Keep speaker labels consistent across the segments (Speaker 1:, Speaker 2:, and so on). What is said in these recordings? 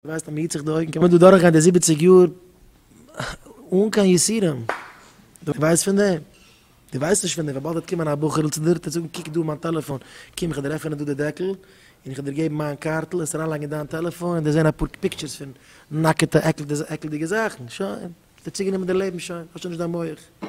Speaker 1: ווייסט אז מען היט זיך די אויגן קען מען דא דורך גיין די זיבעציג יאר אן קיין יסורים, דו ווייסט פון דעם? דו ווייסט נישט פון דעם, וויבאלד וועט קומען א בחור'ל צו דיר, טוט זאגן קוק דא מיין טעלעפאן, קום איך וועל עפענען דא די דעקל, און איך וועל דיר געבן מיין קארטל, עס אריינלייגן אין דיין טעלעפאן, און דיר זען אפאר פיקטשערס פון נאקעטע עקלדיגע זאכן, שוין, האסט דיר צוגענומען די לעבן שוין, האסט שוין נישט דיין מח.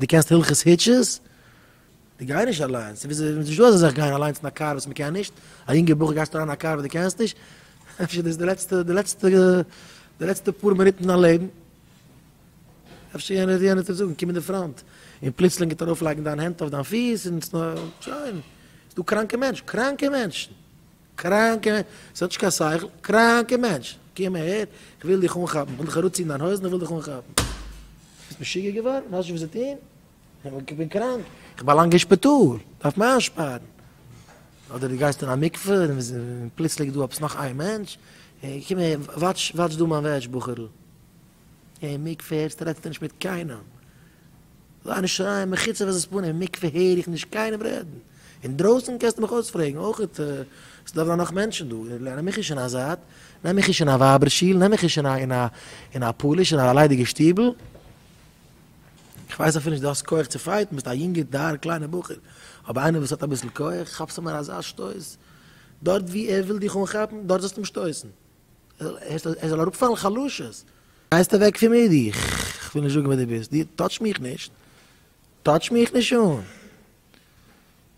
Speaker 1: די קענסט הלכות היטשעס? די גיי נישט אליינס, ס'איז נישט דא אזא זאך גיין אליינס אין א קאר וואס מ'קען נישט, א יונגע בחור גייסט אריין אין א קאר וואס די קענסט נישט? אפשר דאס די לעצטע די לעצטע די לעצטע פאר מינוט אין דיין לעבן? אפשר יענער יענער טוט זאגן קום אין די פראנט, און פלוצלינג גייט ער ארויף לייגן דיין הענט אויף דיין פיס און שוין, ס'דא קראנקע מענטשן קראנקע מענטשן. קראנקע מענטש, עס האט נישט קיין שכל, קראנקע מענטש, קום אהער, איך וויל דיך אנכאפן, איך וויל דיך אראפציען דיין הויזן, איך וויל דיך אנכאפן. ביסט משוגע געווארן? ווייסט נישט וואס צו טון? איך בין קראנק, איך באלאנג אין שפיטאל, דארף מען איינשפארן. אדער דו גייסט אין א מקווה, און פלוצלינג איז דא עפעס נאך איין מענטש, קום אהער, וואטש דא מיין וועש בחור'ל. אין מקווה רעדסטו נישט מיט קיינעם, זיי נישט שרייען מחוץ לבית פנים, אין מקווה הער איך נישט קיינעם רעדן, אינדרויסן קענסטו מיך אויספרעגן אויכעט, עס איז דא אוודאי נאך מענטשן דא, נעם מיך נישט אין א זייט, נעם מיך נישט אין א ווייבער שול, נעם מיך נישט אין א פאליש אין א ליידיגע שטיבל, איך ווייס אפילו נישט דו האסט כח צו פייטן, ביסט א יונגער דארער קליינער בחור, אבער איינער וואס האט אביסל כח, כאפסט אים אן אזא שטויס, דארט וואו ער וויל דיך אנכאפן, דארט זאלסטו אים שטויסן. ער זאל אראפפאלן חלשות. גייסט אוועק פון מיר דו, כ'וויל נישט זאגן ווער דו ביסט, דו טאטש מיך נישט, טאטש מיך נישט אן.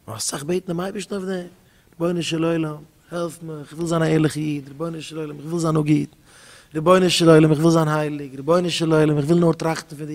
Speaker 1: נאר אסאך בעטן דעם אייבערשטן אויף דעם, רבונו של עולם, העלף מיך, איך וויל זיין א ערליכע איד, רבונו של עולם, איך וויל זיין נאר גוט, רבונו של עולם, איך וויל זיין הייליג, רבונו של עולם, איך וויל נאר טראכטן פון דיר.